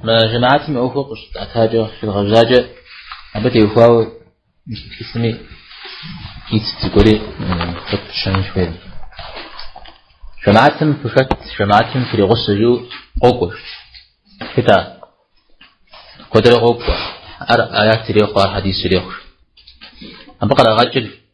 Мы жэмаатым и ӏуэхур къыщытӏэтакӏэ, щедгъэжьакӏэ, абы теухуауэ мис цӏыхуми ит зыгуэри хэт щэнын хуейр. Жэмаатым фыхэт, жэмаатым фригъусэ жиӏэу къокӏуэ. Хэта? Куэдрэ къокӏуэ. Ар аят ирехъу, ар хьэдис ирехъу. Абы кърагъэкӏыр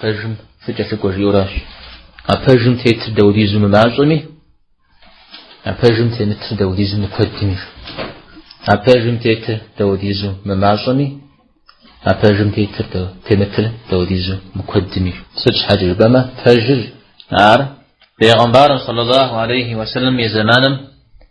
Пэжым фыкӏэлъыкӏуэ жиӏэращ. А пэжым тетыр дауэдизу мымащӏэми, а пэжым темытыр дауэдизу мыкуэдми. А пэжым тетыр дауэдизу мымащӏэми, а пэжым тетыр темытыр дауэдизу мыкуэдми. Сыт щхьэкӏэ жыпӏэмэ, пэжыр ар Пейгъэмбарым саллаллаху алейхи ва саллям и зэманым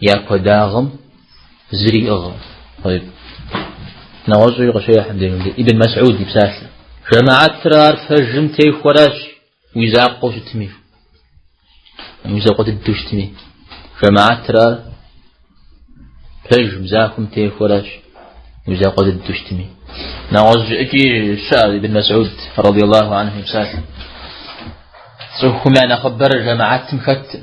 Я куэдагъым зэриӏыгъӏым. Нэгъуэщӏи къыщехь мыбдежи Ибн Мас'уд и псалъэ. Жамаӏэтыр ар пэжым техуэращ уи закъуэу щытми. Уи закъуэ дыдэу щытми. Жамаӏэтыр ар пэжым захуэм техуэращ уи закъуэ дыдэу щытми. Нэгъуэщӏ икӏи щыӏэ Ибн Мас'уд радиаллаху анху и псалъэ. Цӏыхум я нэхъыбэр жамаӏэтым хэтӏым.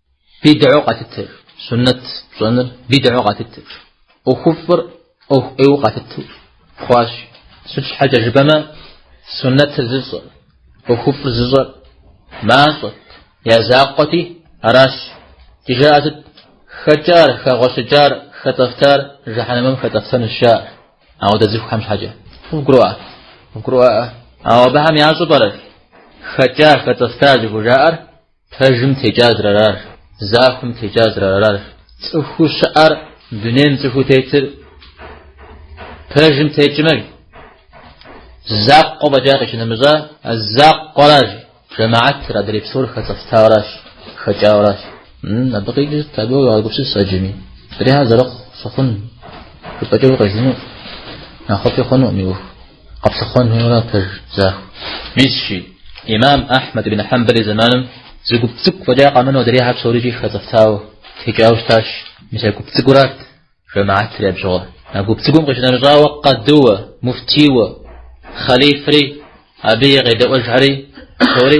Бидӏэу къатытыр, суннэт пщӏэныр бидӏэу къатытыр, ӏуэхуфӏыр ӏуэху ӏейуэ къатыту хъуащ. Сыт щхьэкӏэ жыпӏэмэ, суннэтыр зыщӏэр, ӏуэхуфӏыр зыщӏэр мащӏэт, я закъуэти аращ. Ди жаӏэ сыт? Хэкӏар, хэгъуэщыкӏар, хэцӏэфтар жэхьэнэмым хэцӏэфтэнущ жаӏэр ауэдэ цӏыхухэм щхьэкӏэ. Къывгурыӏуа? Къывгурыӏуаӏэ. Ауэ абыхэм ящӏэу пӏэрэ хэкӏа, хэцӏэфта зыхужаӏэр Пэжым текӏар зэрыарар, захуэм текӏар зэрыарар. Цӏыхуу щыӏэр дунейм цӏыхуу тетыр пэжым текӏмэ, закъуэ фӏэкӏа къищынэмыщӏа, а закъуэращ жэмаӏэтыр, адрей псор хэцӏэфтауэращ, хэкӏауэращ. Абы къикӏырт, абы уегъэгупсыс ӏэджэми. Псорихэр зэрыхъу сыхъун жыпӏэкӏэ укъелыну, нэхъыфӏи хъуну мы ӏуэху. Къэплъыхъуэн хуейуэ пэж захуэ. Мисщи, имам Ахьмэд ибн Хьэмбэл и зэманым зы гуп цӏыкӏу фӏэкӏа къэмынэу адрейхэр псорикӏи хэцӏэфтауэ текӏауэ щытащ. Мис а гуп цӏыкӏурат жэмаатыр абы щыгъуэ. А гуп цӏыкӏум къищынэмыщӏауэ къадыуэ, муфтийуэ, хъалифри, абы и къедэӏуэжхэри псори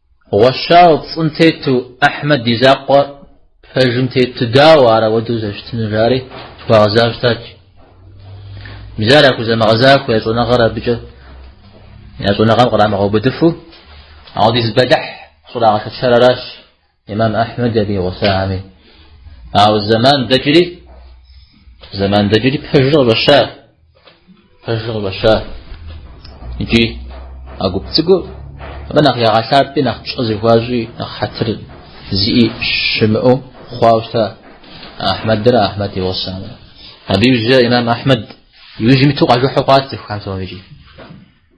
Гъуэщауэ пцӏым тету Ахьмэд и закъуэ пэжым тету дауэ ар ауэдэу зэщытыну жари зыхуагъэзауэ щытащ. Мис ар яхузэмыгъэзахуэ я щӏэныгъэр абыкӏэ я щӏэныгъэм кърамыгъэубыдыфу ауэдиз бэлыхь щӏрагъэшэчар аращ имам Ахьмэд абы и гъусахэми. Ауэ зэман дэкӏри зэман дэкӏри пэжыр къыщӏэща. Пэжыр къыщӏэща икӏи а гуп цӏыкӏур абы нэхъ ягъэлъапӏи, нэхъ пщӏэ зыхуащӏи, нэхъ хьэтыр зиӏи щымыӏэу хъуауэ щыта Ахьмэдрэ Ахьмэд и гъусамрэ. Абы иужькӏэ имам Ахьмэд иужьым иту къажыхьу хъуат цӏыхухэм псомикӏи.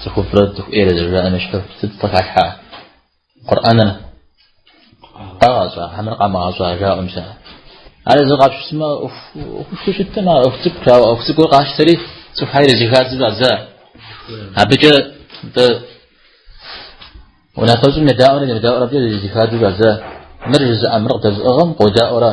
Цӏыхуфӏрэ цӏыху ӏейрэ зэжаӏэм и щхьэу сыт къыхалъхьа? Къурӏэныр къагъэщӏа, хьэмэрэ къамыгъэщӏа жаӏэм сэ. Ар зы къапщысмэ, ӏуэхушхуэу щыттым, а ӏуэху цӏыкӏу, а ӏуэху цӏыкӏур къащтэри, цӏыхухьэр ирызыхадзу щӏадза. Абыкӏэ тӏэ унафэщӏым едаӏуэрэ емыдаӏуэрэ абыкӏэ ирызыхадзу щӏадза. Мыр жызыӏэ, мыр къыдэзыӏыгъым къодаӏуэрэ.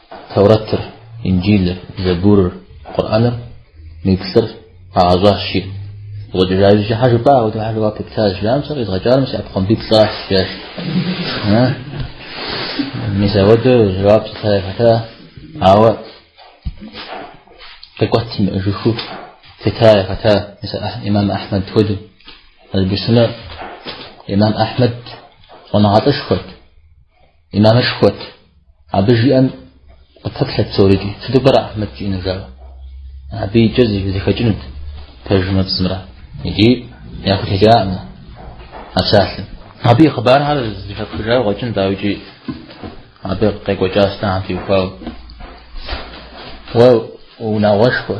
Таурэтыр, Инджылыр, Зэбурыр, Къурӏэныр, мы плӏыр къагъэщӏащ, жиӏэ. Къыщӏэкӏыжа жыжьэ щхьэ жыпӏа, ауэдэ щхьэ жэуап къипта щыжаӏам сэ къизгъэкӏар мы си ӏэпхъуамбиплӏыращ, жиӏащ. Мис ауэдэу жэуап зыта яхэта, ауэ къикӏуэт имыӏэжыххэу щыта яхэта, мис имам Ахьмэд хуэдэу. Албысымэ имам Ахьмэд щӏэныгъэлӏышхуэт. Имамышхуэт. Абы жиӏэм къыпэплъэт псорикӏи. Сыту пӏэрэ Ахьмэд жиӏэну жаӏэу? Абыкӏэ зэхэкӏынут пэжымрэ пцӏымрэ. Икӏи яхутекӏаӏым а псалъэм. Абы и хъыбархэр зэхэпхыжауэ къэкӏынт, ауэ икӏи абы къекӏуэкӏа сытхэм теухуауэ. Уэ унагъуэшхуэ.